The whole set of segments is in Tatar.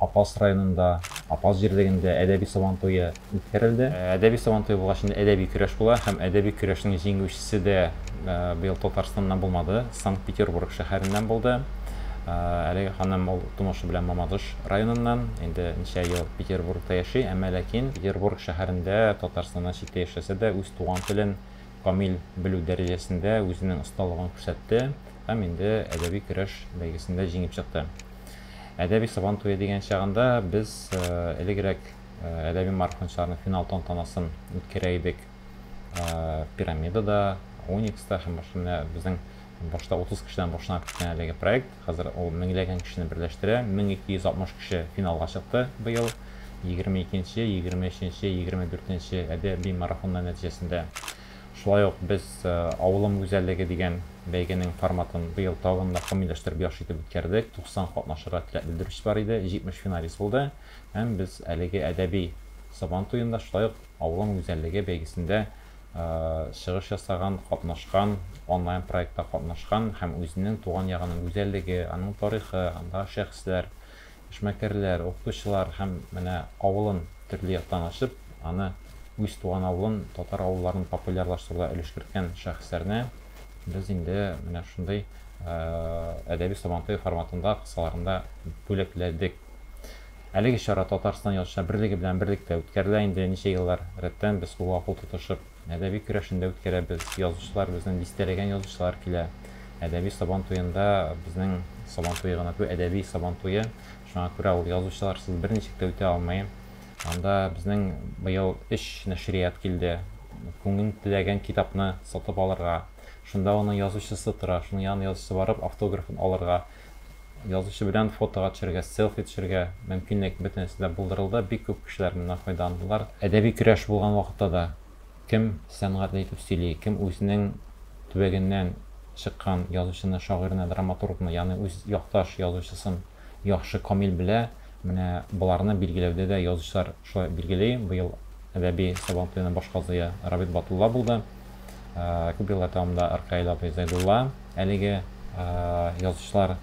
Апас районында, Апас җирлегендә әдәби Сабан туе үткәрелде. Әдәби Сабан туе булгач инде әдәби көрәш була һәм әдәби көрәшнең җиңүчесе дә быел Татарстаннан булмады, Санкт-Петербург шәһәреннән булды. Әлеге ханым ул тумышы белән Мамадыш районыннан, инде ничә ел Петербургта яши, әмма ләкин Петербург шәһәрендә, Татарстаннан читтә яшәсә дә, үз туган телен камил белү дәрәҗәсендә үзенең осталыгын күрсәтте һәм инде әдәби көрәш бәйгесендә җиңеп чыкты. Әдәби Сабан туе дигән чагында без элегрәк әдәби марафончыларның финал тантанасын үткәрә идек. Пирамидада, Уникста һәм башка менә безнең башта 30 кешедән башланып киткән әлеге проект хәзер ул меңләгән кешене берләштерә. 1260 кеше финалга чыкты быел 22 нче, 23 нче, 24 нче әдәби марафоннар нәтиҗәсендә. Шулай ук без Авылым гүзәллеге дигән бәйгенең форматын быел тагын да камилләштереп, яхшы итеп үткәрдек. 90 катнашырга теләк белдерүче бар иде, 70 финалист булды һәм без әлеге әдәби Сабантуенда, шулай ук Авылым гүзәллеге бәйгесендә чыгыш ясаган, катнашкан, онлайн проектта катнашкан һәм үзенең туган ягының гүзәллеге, аның тарихы, андагы шәхесләр, эшмәкәрләр, укытучылар һәм менә авылын төрле яктан ачып, аны үз туган авылын, татар авылларын популярлаштыруда өлеш керткән шәхесләрне без инде менә шундый әдәби Сабантуй форматында кысаларында бүләкләдек. Әлеге чара Татарстан Язучылар берлеге белән берлектә үткәрелә инде ничә еллар рәттән без кулга-кул тотышып. Әдәби көрәшен дә үткәрәбез. Язучылар безнең дистәләгән язучылар килә. Әдәби Сабан туенда безнең Сабан туе гына түгел, әдәби Сабан туе. Шуңа күрә ул язучыларсыз берничек тә үтә алмый. Анда безнең быел өч нәшрият килде. Күңең теләгән китапны сатып алырга, шунда аның язучысы тора, шуның янына язучысы барып автографын алырга. Язучы белән фотога төшәргә, селфи төшәргә мөмкинлек бөтенесе дә булдырылды, бик күп кешеләр моннан файдаландылар. Әдәби көрәш булган вакытта да кем сәнгать әйтеп сөйли, кем үзенең төбәгеннән чыккан язучыны, шагыйрьне, драматургны, ягъни үз якташ язучысын яхшы, камил белә, менә боларны билгеләүдә дә язучылар шулай билгели, быел әдәби Сабантуены баш казые Рабит Батулла булды. Күп еллар дәвамында Ркаил абый Зәйдулла әлеге язучылар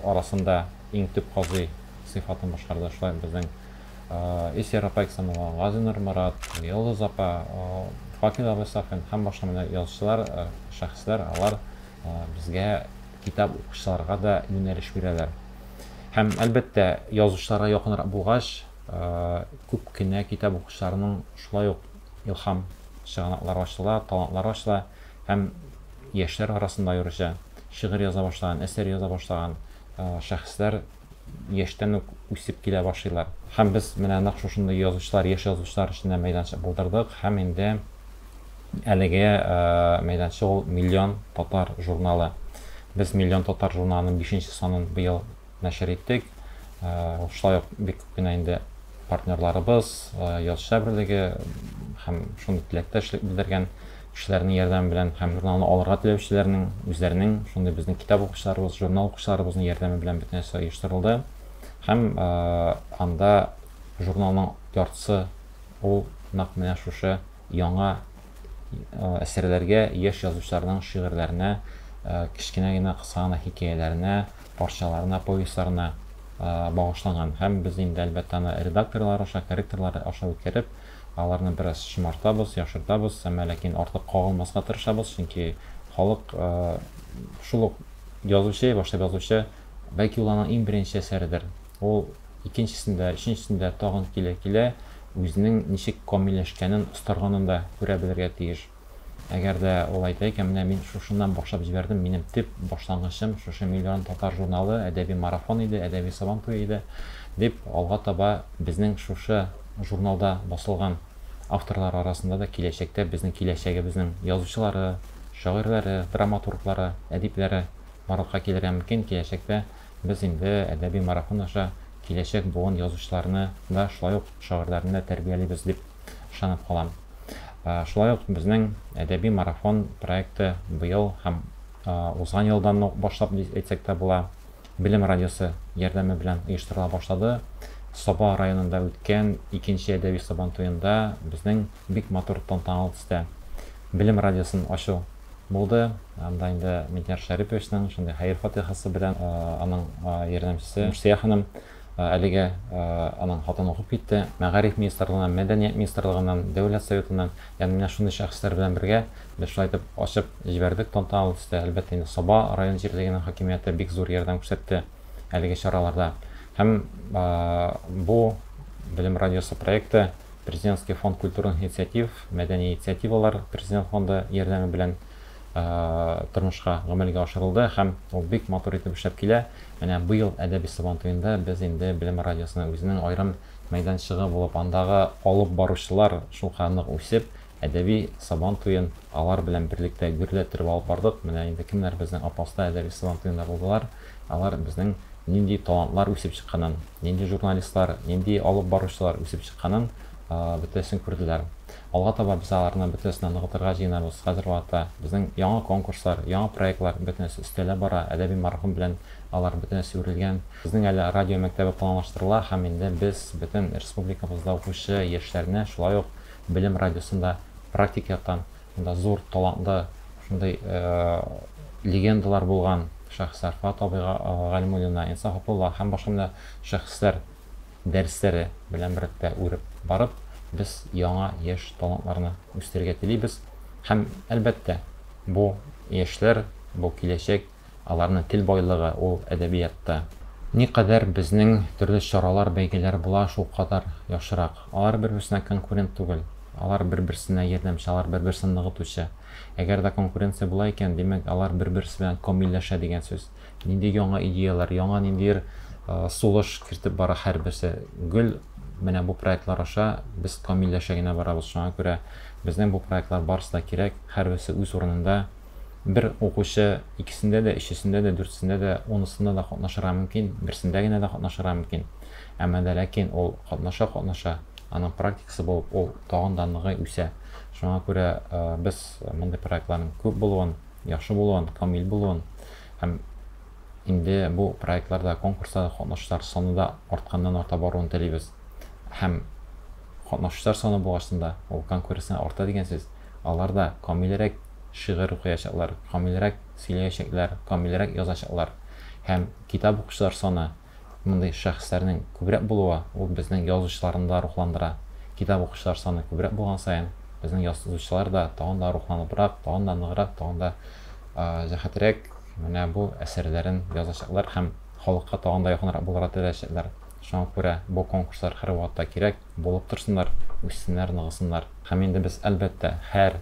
арасында иң төп казый сыйфатын башкарды. Шулай безнең Эсер апа Иксамова, Газинур Морат, Йолдыз апа, Факил абый Сафин һәм башка менә язучылар, шәхесләр, алар безгә китап укучыларга да юнәлеш бирәләр. Һәм, әлбәттә, язучыларга якынрак булгач, күп кенә китап укучыларның шулай ук Илһам, чыганаклар ачыла, талантлар ачыла һәм яшьләр арасында аеруча шигырь яза башлаган, әсәр яза башлаган шәхесләр яшьтән үк үсеп килә башлыйлар. Һәм без менә нәкъ шушындый язучылар, яшь язучылар өчен дә мәйданчык булдырдык һәм инде әлеге мәйданчык ул Миллион татар журналы. Без Миллион татар журналының бишенче санын быел нәшер иттек. Шулай ук бик күп кенә инде партнерларыбыз, язучылар берлеге һәм шундый теләктәшлек белдергән кешеләрнең ярдәме белән һәм журналны алырга теләүчеләрнең үзләренең, шундый безнең китап укучыларыбыз, журнал укучыларыбызның ярдәме белән бөтен нәрсә оештырылды. Һәм анда журналның яртысы ул нәкъ менә шушы яңа әсәрләргә, яшь язучыларның шигырьләренә, кечкенә генә, кыска гына хикәяләренә, парчаларына, повестьларына багышланган һәм без инде, әлбәттә, аны редакторлар аша, корректорлар аша үткәреп, аларны бераз шомартабыз, яхшыртабыз, әмма ләкин артык кагылмаска тырышабыз, чөнки халык шул ук язучы, башлап язучы, бәлки ул аның иң беренче әсәредер, ул икенчесендә, өченчесендә тагын килә-килә үзенең ничек камилләшкәнен, остарганын да күрә белергә тиеш. Әгәр дә ул әйтә икән, менә мин шушыннан башлап җибәрдем, минем төп башлангычым шушы Миллион татар журналы, әдәби марафон иде, әдәби Сабантуй иде, дип, алга таба безнең шушы журналда басылган авторлар арасында да киләчәктә безнең киләчәгебезнең язучылары, шагыйрьләре, драматурглары, әдипләре барлыкка килергә мөмкин, киләчәктә без инде әдәби марафон аша киләчәк буын язучыларны да, шулай ук шагыйрьләрне дә тәрбиялибез, дип. ышанып калам. Шулай ук безнең Әдәби марафон проекты быел һәм узган елдан ук башлап дип әйтсәк тә була, Белем радиосы ярдәме белән оештырыла башлады. Саба районында үткән икенче әдәби Сабантуенда безнең бик матур тантаналы төстә Белем радиосын ачу булды. Анда инде Миндияр Шәриповичның шундый хәер-фатихасы белән аның ярдәмчесе Нурсөя ханым Әлегә аның хатын укып китте. Мәгариф министрлыгыннан, Мәдәният министрлыгыннан, Дәүләт Советыннан, ягъни менә шундый шәхесләр белән бергә без шулай итеп ачып җибәрдек тантаналы төстә. Әлбәттә инде Саба район җирлегенең хакимияте бик зур ярдәм күрсәтте әлеге чараларда. Һәм бу Белем радиосы проекты Президентский фонд культурных инициатив, Мәдәни инициативалар президент фонды ярдәме белән тормышка гамәлгә ашырылды һәм ул бик матур итеп эшләп килә. Менә быел Әдәби Сабантуенда без инде Белем радиосына үзенең аерым мәйданчыгы булып, андагы алып баручылар шуңа нык үсеп, Әдәби Сабан туен алар белән берлектә гөрләттереп алып бардык. Менә инде кемнәр безнең Апаста Әдәби Сабантуенда булдылар, алар безнең нинди талантлар үсеп чыкканын, нинди журналистлар, нинди алып баручылар үсеп чыкканын бөтәсен күрделәр. Алга таба без аларны бөтенесенә ныгытырга җыенабыз. Хәзер вакытта безнең яңа конкурслар, яңа проектлар бөтенесе өстәлә бара. Әдәби марафон белән алар бөтенесе үрелгән. Безнең әле радио мәктәбе планлаштырыла һәм инде без бөтен республикабызда укучы яшьләрне шулай ук Белем радиосын да практик яктан монда зур талантлы шундый легендалар булган шәхесләр Фат абыйга Галимуллина, Инсаф Абдулла һәм башка менә шәхесләр дәресләре белән беррәттә үреп барып, без яңа яшь талантларны үстерергә телибез. Һәм, әлбәттә, бу, яшьләр, бу, киләчәк, аларның тел байлыгы, ул әдәбиятта. Никадәр безнең төрле чаралар, бәйгеләр була, шулкадәр яхшырак. Алар бер-берсенә конкурент түгел. Алар бер-берсенә ярдәмче, алар бер-берсен ныгытучы. Әгәр дә конкуренция була икән, димәк, алар бер-берсе белән камилләшә дигән сүз. Нинди яңа идеяләр, яңа ниндидер сулыш кертеп бара һәрберсе. Гел менә бу проектлар аша без камилләшә генә барабыз. Шуңа күрә безнең бу проектлар барысы да кирәк, һәрберсе үз урынында. Бер укучы икесендә дә, өчесендә дә, дүртесендә дә, унысында да катнашырга мөмкин, берсендә генә дә катнашырга мөмкин. Әмма дә ләкин ул катнаша-катнаша, аның практикасы булып, ул тагын да ныгый, үсә. Шуңа күрә без мондый проектларның күп булуын, яхшы булуын, камил булуын һәм инде бу проектларда, конкурсларда катнашучылар саны да артканнан-арта баруын телибез. Һәм катнашучылар саны булгач да, ул конкуренция арта дигән сүз. Алар да камилрәк шигырь укыячаклар, камилрәк сөйләячәкләр, камилрәк язачаклар. Һәм китап укучылар саны, Мондый шәхесләрнең күбрәк булуы, ул безнең язучыларны да рухландыра. Китап укучылар саны күбрәк булган саен, безнең язучылар да тагын да рухланыбрак, тагын да ныграк, тагын да җәһәтрәк менә бу әсәрләрен язачаклар һәм халыкка тагын да якынрак булырга теләячәкләр. Шуңа күрә бу конкурслар һәрвакытта кирәк, булып торсыннар, үссеннәр, ныгысыннар. Һәм инде без, әлбәттә, һәр.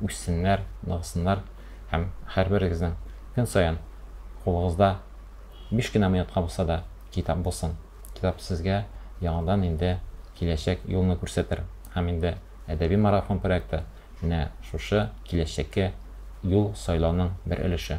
үссеннәр, ныгысыннар һәм һәрберегезнең көн саен кулыгызда биш кенә минутка булса да китап булсын. Китап сезгә яңадан инде киләчәк юлны күрсәтер. Һәм инде Әдәби марафон проекты менә шушы киләчәккә юл сайлауның бер өлеше.